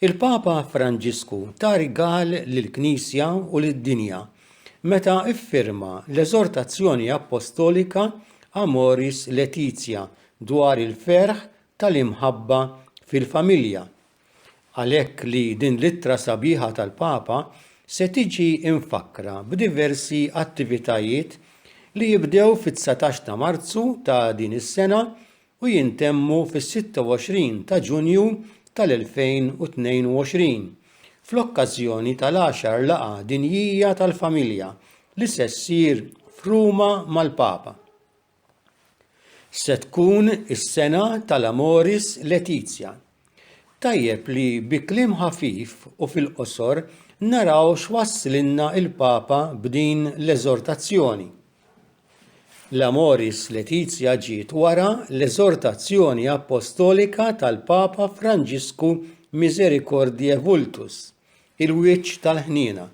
Il-Papa Franġisku ta rigal lill-Knisja u lid-dinja meta ffirma l-eżortazzjoni appostolika Amoris Laetitia dwar il-ferħ tal-imħabba fil-familja. Għalhekk li din l-ittra sabiħa tal-Papa se tiġi mfakkra b'diversi attivitajiet li jibdew fit-dsatax ta' Marzu ta' din is-sena u jintemmu fis-26 ta' Ġunju tal-2022 fl-okkażjoni tal-għaxar Laqgħa Dinjija tal-Familja li se ssir f'Ruma mal-Papa. Se tkun is-sena tal-Amoris Laetitia. Tajjeb li bi kliem ħafif u fil-qosor naraw x'wasslilna l-Papa b'din l-eżortazzjoni. L-Amoris Laetitia ġiet wara l-eżortazzjoni appostolika tal-Papa Franġisku Misericordiae Vultus, il-wiċċ tal-ħniena.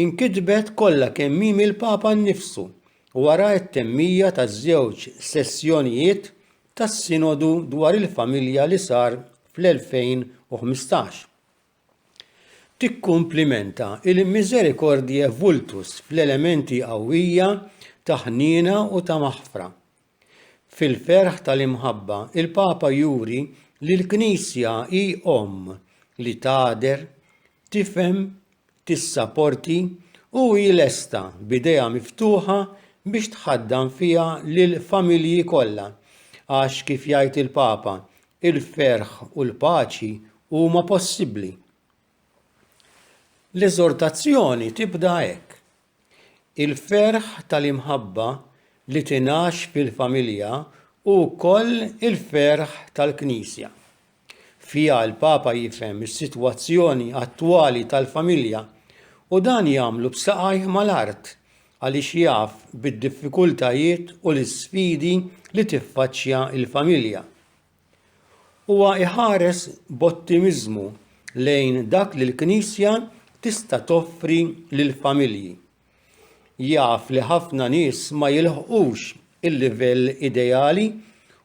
Inkitbet kollha kemm hi mill-Papa nnifsu wara t-temmija taż-żewġ sessjonijiet tas-Sinodu dwar il-Familja li sar fl-2015. Tikkumplimenta il-Misericordiae Vultus fl-elementi qawwija ta' ħniena u ta' maħfra. Fil-ferħ tal-imħabba, il-Papa juri li l-Knisja hi Omm li tagħder, tifhem tissaporti u hi lesta b'idejha miftuħa biex tħaddan fiha lill-familji kollha, għax kif jgħid il-Papa, il-ferħ u l-paċi huma possibbli. L-eżortazzjoni tibda hekk. Il-ferħ tal-imħabba li tingħax fil-familja hu wkoll il-ferħ tal-Knisja. Fiha l-Papa jifhem is-sitwazzjoni attwali tal-familja u dan jagħmlu b'saqajh mal-art għaliex jaf bid-diffikultajiet u l-isfidi li tiffaċċja l-familja. Huwa iħares b'ottimiżmu lejn dak li l-Knisja tista' toffri lill-familji. Jaf li ħafna nies ma jilħqux il-livell ideali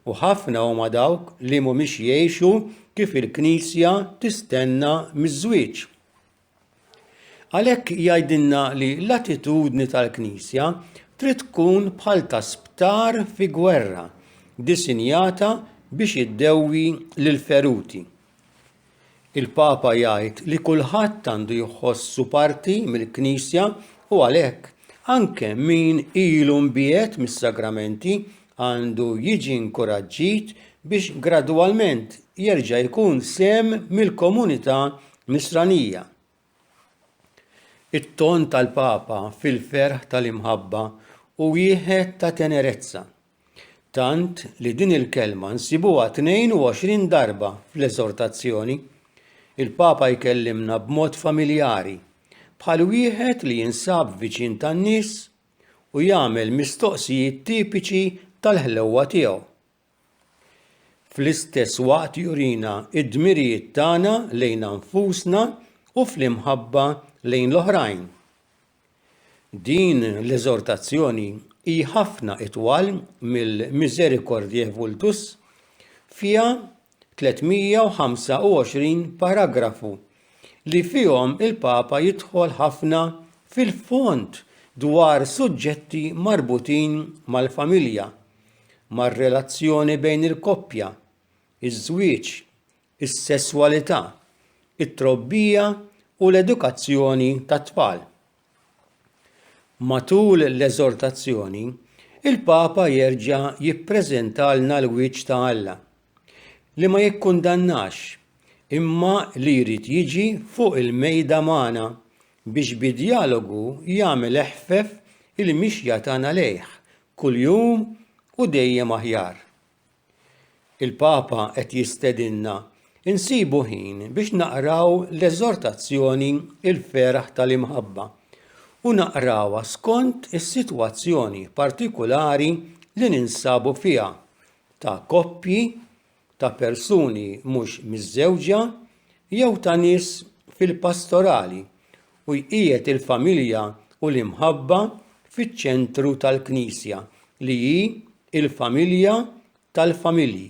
u ħafna huma dawk li mhumiex jgħixu kif il-Knisja tistenna miż-żwieġ. Għalhekk jgħidilna li l-attitudni tal-Knisja trid tkun bħal ta' sptar fi gwerra, disinjata biex iddewwi lill-feruti. Il-Papa jgħid li kulħadd għandu jħossu parti mill-Knisja u għalhekk anke min ilu mbiegħed mis-sagramenti għandu jiġi nkuraġġit biex gradwalment jerġa' jkun sehem mill-komunità Nisranija. It-ton tal-Papa fil-ferħ tal-imħabba hu wieħed ta' tenerezza, tant li din il-kelma nsibuha 22 darba fl-Eżortazzjoni. Il-Papa jkellimna b'mod familjari, bħal wieħed li jinsab viċin tan-nies u jagħmel mistoqsijiet tipiċi tal-ħlewwa tiegħu. fl-istess waqt jurina d-dmirijiet tagħna lejna nfusna u fl-imħabba lejn l-oħrajn. Din l-eżortazzjoni hi ħafna itwal mill-Misericordiae Vultus, fiha 325 paragrafu li fihom il-Papa jidħol ħafna fil-fond dwar suġġetti marbutin mal-familja, mar-relazzjoni bejn il-koppja, iż-żwieġ, is-sesswalità, it-trobbija u l-edukazzjoni tat-tfal. Matul l-eżortazzjoni, il-Papa jerġa' jippreżentalna l-wiċċ ta' Alla, li ma jikkundannax imma li jrid jiġi fuq il-mejda magħna biex bi djalogu jagħmel eħfef il-mixja tagħna lejh, kuljum u dejjem aħjar. Il-Papa qed jistedinna nsibu ħin biex naqraw l-eżortazzjoni Il-Feraħ tal-Imħabba u naqrawha skont is-sitwazzjoni partikulari li ninsabu fiha ta' koppji, ta' persuni mhux miżżewġa jew ta' nies fil-pastorali u jqiegħed il-familja u l-imħabba fiċ-ċentru tal-Knisja li hi l-familja tal-familji.